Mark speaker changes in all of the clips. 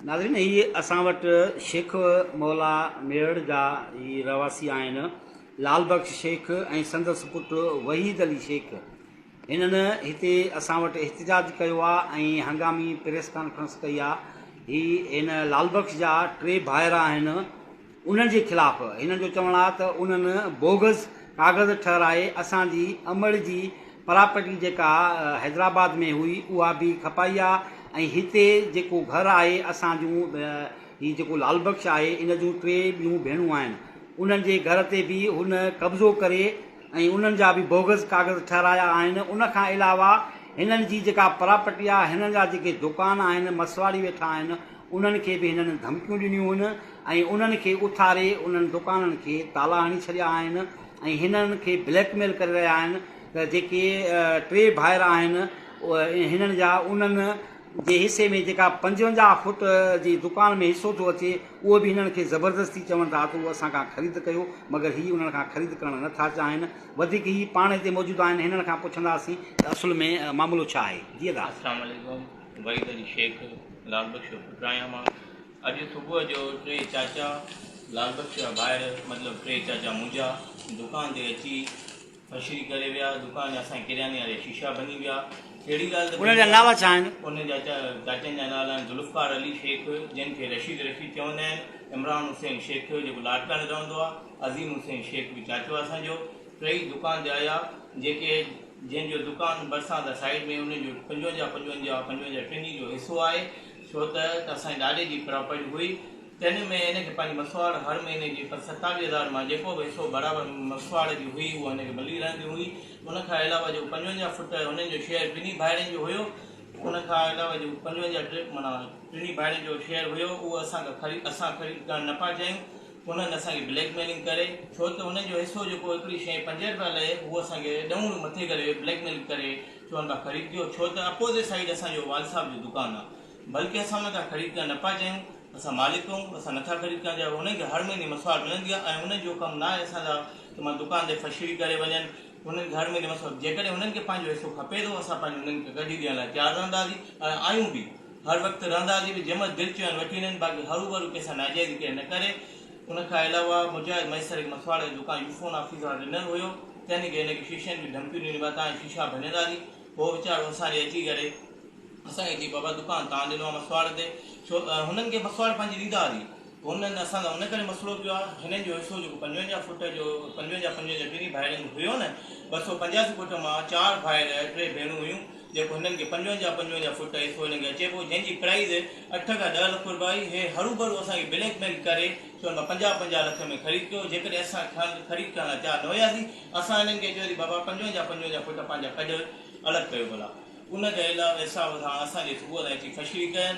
Speaker 1: ناظرين هي اسان وٽ شيخ مولا ميڙ جا هي رهواسي آهن لال بخش شيخ ۽ سندس پٽ وحيد علي شيخ هنن هتي اسان وٽ احتجاج ڪيو آهي ۽ هنگامي پريس ڪانفرنس ڪئي آهي هي هن لال بخش جا ٽي ڀائر آهن انهن جي خلاف هنن جو چوڻ آهي ته انهن بوگس ڪاغذ ٺهرائي اسان جي امڙ جي پراپرٽي جيڪا حيدرآباد ۾ هئي اها به کپائي آهي ۽ هتي جيڪو گهر آهي اسان جون هي جيڪو لال بخش آهي ان جون ٽي ٻيون ڀيڻون آهن انهن جي گهر تي به هن قبضو ڪري ۽ انهن جا به بوگس ڪاغذ ٺهرايا آهن ان کان علاوه هنن جي جيڪا پراپرٽي آهي هنن جا جيڪي دوڪان آهن مسواڙي ويٺا آهن انهن کي به هنن ڌمڪيون ڏنيون هن ۽ انهن کي اٿاري انهن دڪانن کي تالا هڻي ڇڏيا آهن ۽ هنن کي بليڪ ميل ڪري رهيا آهن ته جيڪي ٽي ڀائر آهن هنن جا انهن جي حصي ۾ جيڪا پنجونجاهه فوٽ جي دڪان ۾ حصو ٿو اچي اهو به هنن کي زبردستي چون ٿا ته اهو اسان کان خريد ڪيو مگر هي انهن کان خريد ڪرڻ نه ٿا چاهين وڌيڪ هي پاڻ هتي موجود آهن هنن کان پڇنداسين ته اصل ۾ معاملو ڇا آهي جي ادا السلام عليڪم
Speaker 2: وحيد علي شيخ، لال بخش جو پٽ آهيان مان. اڄ صبح جو ٽي چاچا، لال بخش جا ڀائر، مطلب ٽي چاچا منهنجا، دڪان تي اچي پشري ڪري ويا. دڪان جا اسان جي ڪرياني واري جا شيشا ڀڃي ويا. ڪهڙي ڳالهه ته انهن جا نالا ڇا آهن؟ انهن
Speaker 1: جا
Speaker 2: چاچن جا نالا آهن ذوالفقار علي شيخ، جنهن کي رشيد رشيد چوندا آهن، عمران حسين شيخ، جيڪو لاڙڪاڻي رهندو آهي، عظيم حسين شيخ به چاچو آهي اسان جو، ٽئي دڪان تي آيا جيڪي جنهن جو دڪان ڀرسان تي سائيڊ ۾ انهن جو پنجونجاهه پنجونجاهه پنجونجاهه ٽنهي جو حصو آهي ڇو ته ته اسان جي ڏاڏي جي پراپرٽي هئي تنهن ۾ هن کي پنهنجي مسواڙ هر مهيني جي پر ستاويهه هزار مان جيڪو به حصو برابر مسواڙ جي هئي اها هن کي ملي رهندي هئي ان کان علاوه جيڪو پنجونجاهه فوٽ هنن جو شيئر ٽنهي ڀائرن جو هيو ان کان علاوه جيڪو پنجونجاهه معنيٰ ٽنهي ڀائرن جو شيئر هيو اهو اسان کان خريد اسان خريد ڪرڻ نه پيا چاهيون انهن اسان کي بليڪ ميلنگ ڪري ڇو ته انهن جو حصو جيڪو هڪڙي شئي پنج رپيا لئي اهو اسان کي ڏهون ڏون مٿي ڪري بليڪ ميلنگ ڪري چون پيا خريد ڪيو ڇو ته اپوزٽ سائيڊ اسان جو والد صاحب جو دڪان آ بلڪه اسان انهن کان خريد ڪرڻ نه پيا چاهيون اسان مالڪ آهون اسان نٿا خريد ڪرڻ چاهيون انهن کي هر مهيني مسواڙ ملندي آ ۽ انهن جو ڪم ناهي اسان جا ته مان دڪان تي فشري ڪري وڃن انهن کي هر مهيني مسواڙ جيڪڏهن انهن کي پنهنجو حصو کپي ٿو اسان پنهنجو انهن کي ڪڍي ڏيڻ لاء تيار رهنداسين ۽ آهيون به هر وقت رهندا جي به جنهن مهل دل چيو ان وٺي وڃن باقي هروڀرو ڪنهن سان ناجائزي ڪير نه ڪري ان کان علاوه مجاهد ميسر هڪ مسواڙ جو دڪان يوفون آفيس وارن ڏنل هيو تنهن کي هن کي شيشن جون ڌمڪيون ڏنيون مان تانجا شيشا ڀڃندا جي هو ويچارو اسان ڏي اچي ڪري اسان کي چئي بابا دڪان تان ڏنو آ مسواڙ تي ڇو هنن کي مسواڙ پنهنجي ڏيدا جي. هنن اسان سان ان ڪري مسئلو ڪيو آهي، هنن جو حصو جيڪو پنجونجاهه فوٽ جو پنجونجاهه پنجونجاهه ٻنهي ڀائرن جو هيو نه، ٻه سؤ پنجاسي فوٽ مان چار ڀائر ٽي ڀيڻون هيون، جيڪو هنن کي پنجونجاهه پنجونجاهه فوٽ حصو هنن کي اچي پيو، جنهن جي پرائيز اٺ کان ڏهه لک رپيا هئي، هي هروڀرو اسان کي بليڪ ميل ڪري سون مان پنجاهه پنجاهه لک ۾ خريد ڪيو، جيڪڏهن اسان کان خريد ڪرڻ لاء تيار نه هياسين، اسان هنن کي چيوسين بابا پنجونجاهه پنجونجاهه فوٽ پنهنجا ڪڍ الڳ ڪيو ڀلا، ان کان علاوه حساب سان اسان جي صوبه تان اچي فشري ڪين،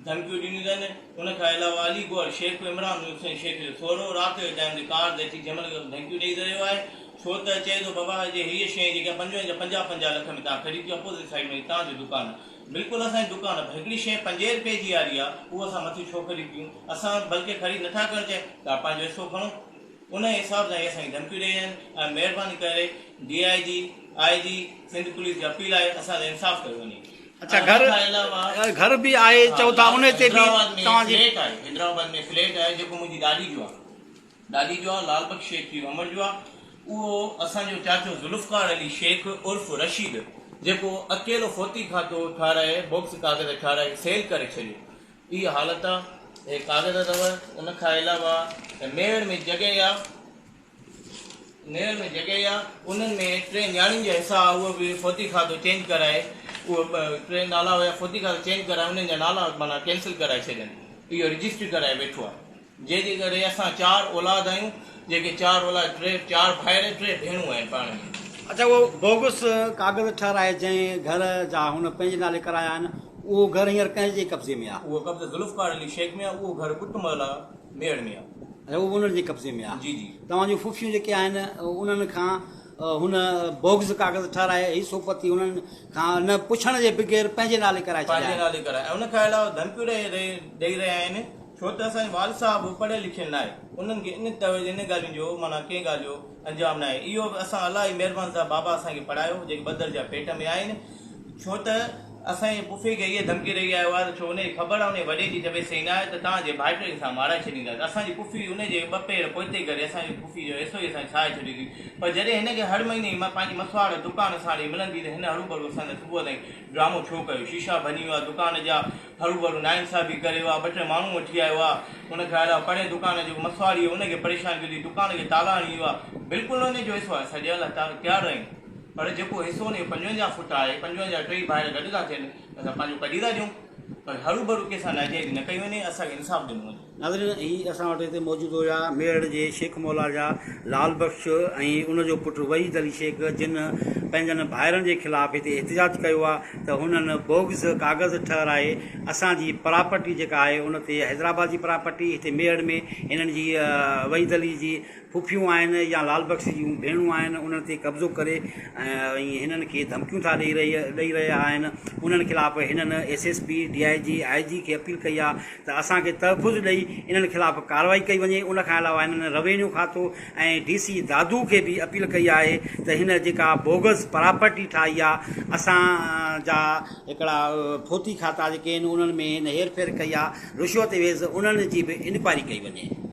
Speaker 2: ڌمڪيون ڏنيون اٿن، ان کان علاوه علي گوهر شيخ به عمران حسين شيخ جو سهرو رات جو جنهن هوندي ڪار تي اچي جنهن مهل کپي ڌمڪيون ڏئي رهيو آهي ڇو ته چئي ٿو بابا جي هيء شيء جيڪا پنجوهه جا پنجاهه پنجاهه لک ۾ تان خريد ڪيو اپوزٽ سائيڊ ۾ تان جو دڪان آهي بلڪل اسان جي دڪان پر هڪڙي شيء پنجين رپين جي آري آهي اهو اسان مٿي ڇو خريد ڪيون اسان بلڪه خريد نٿا ڪرڻ چاهيون تان پنهنجو حصو کڻو ان حساب سان هي اسان کي ڌمڪيون ڏئي رهيا آهن ۽ مهرباني ڪري D I G I G Sindh police جي اپيل آهي اسان سان انصاف ڪيو وڃي. اڇا گهر
Speaker 1: گهر به آهي چئو ٿا ان تي به توهان جي فليٽ آهي حيدرآباد ۾
Speaker 2: فليٽ آهي جيڪو منهنجي ڏاڏي جو آهي ڏاڏي جو آهي لال بخش شيخ جي امڙ جو آهي اهو اسان جو چاچو ذوالفقار علي شيخ عرف رشيد جيڪو اڪيلو فوتي کاتو ٺاهرائي بوڪس ڪاغذ ٺاهرائي سيل ڪري ڇڏيو اهي حالت آهي اهي ڪاغذ اٿو ان کان علاوه ميڙ ۾ جڳهه آهي نيرن ۾ جڳهه آ انهن ۾ ٽي نياڻين جا حصا آ اهو به فوتي کاتو چينج ڪرائي اهو ٽي نالا هيا فوتي کاتو چينج ڪرائي انهن جا نالا معنيٰ ڪينسل ڪرائي ڇڏين اهو رجسٽري ڪرائي ويٺو آ جنهن جي ڪري اسان چار اولاد آهيون جيڪي چار اولاد ٽي چار ڀائر ٽي ڀيڻون آهن پاڻ ۾. اچا اهو بوگس
Speaker 1: ڪاغذ ٺهرائي جنهن گهر جا هن پنهنجي نالي ڪرايا آهن اهو گهر هينئر ڪنهن جي قبضي ۾ آ؟ اهو قبضو ذوالفقار
Speaker 2: علي شيخ ۾ آ اهو گهر ٻٽ محلا ميڙ ۾ آ. اهو به انهن جي قبضي
Speaker 1: ۾ آهي. توهان جون ڦڦيون
Speaker 2: جيڪي
Speaker 1: آهن انهن کان هن بوگز ڪاغذ ٺهرائي هي سوپتي انهن کان نه پڇڻ جي بغير پنهنجي نالي ڪرائي ڇڏيا آهن. پنهنجي نالي ڪرائي ۽ ان کان
Speaker 2: علاوه ڌمڪيون ڏئي رهيا آهن ڇو ته اسان جو والد صاحب به پڙهيل لکيل ناهي انهن کي ان ان ڳالهين جو معنيٰ ڪنهن ڳالهه جو انجام ناهي اهو به اسان الله جي مهربان سان بابا اسان کي پڙهايو جيڪي ٻڌل جا پيٽ ۾ آهن ڇو ته اسان جي پڦي کي اهي ڌمڪي ڏئي آيو آهي ته ڇو ان کي خبر آهي ان جي وڏي جي ته ويسي نه آهي ته تان جي ڀائٽي کي اسان مارائي ڇڏينداسين اسان جي پڦي ان جي ٻه پير پوئتي ڪري اسان جي پڦي جو حصو ئي اسان ڇاهي ڇڏيو ٿي پر جڏهن هن کي هر مهيني پنهنجي مسواڙ دڪان ساڻ ئي ملندي ته هن هروڀرو اسان سان صبح تائين ڊرامو ڇو ڪيو شيشا ڀڃي ويا دڪان جا هروڀرو ناانصافي ڪري اها ٻه ٽي ماڻهو وٺي آيو آ ان کان علاوه پرين دڪان جو جيڪو مسواڙي هو ان کي پريشان ڪري دڪان کي تالا هڻي ويو آ بلڪل ان جو حصو آهي اسان ڏيڻ لاء تيار آهيون پر جيڪو حصو ان جو پنجونجاهه فوٽ آهي پنجونجاهه ٽئي ڀائر گڏ ٿا ٿين اسان پنهنجو ڪڍي ٿا ڏيون پر هروڀرو ڪنهن سان ناجائزي نه ڪئي وڃي اسان کي انصاف ڏنو وڃي. ناظرين هي اسان وٽ
Speaker 1: هتي موجود هيا ميرٺ جي شيخ مولا جا لعل بخش ۽ ان جو پٽ وحيد علي شيخ جن پنهنجن ڀائرن جي خلاف هتي احتجاج ڪيو آ ته هنن بوگز ڪاغذ ٺهرائي اسان جي پراپرٽي جيڪا آهي ان تي حيدرآباد جي پراپرٽي هتي ميرٺ ۾ هنن جي وحيد علي جي ڦڦيون آهن يا لال بخش جون ڀيڻون آهن انهن تي قبضو ڪري ۽ هنن کي ڌمڪيون ٿا ڏئي رهي ڏئي رهيا آهن انهن خلاف هنن S S P D I G I G کي اپيل ڪئي آهي ته اسان کي تحفظ ڏئي انهن خلاف ڪارروائي ڪئي وڃي ان کان علاوه هنن روينيو کاتو ۽ ڊي سي دادو کي به اپيل ڪئي آهي ته هن جيڪا بوگس پراپرٽي ٺاهي آهي اسان جا هڪڙا ڦوتي کاتا جيڪي آهن انهن ۾ هن هير ڦير ڪئي آهي رشوت ويز انهن جي به انڪوائري ڪئي وڃي.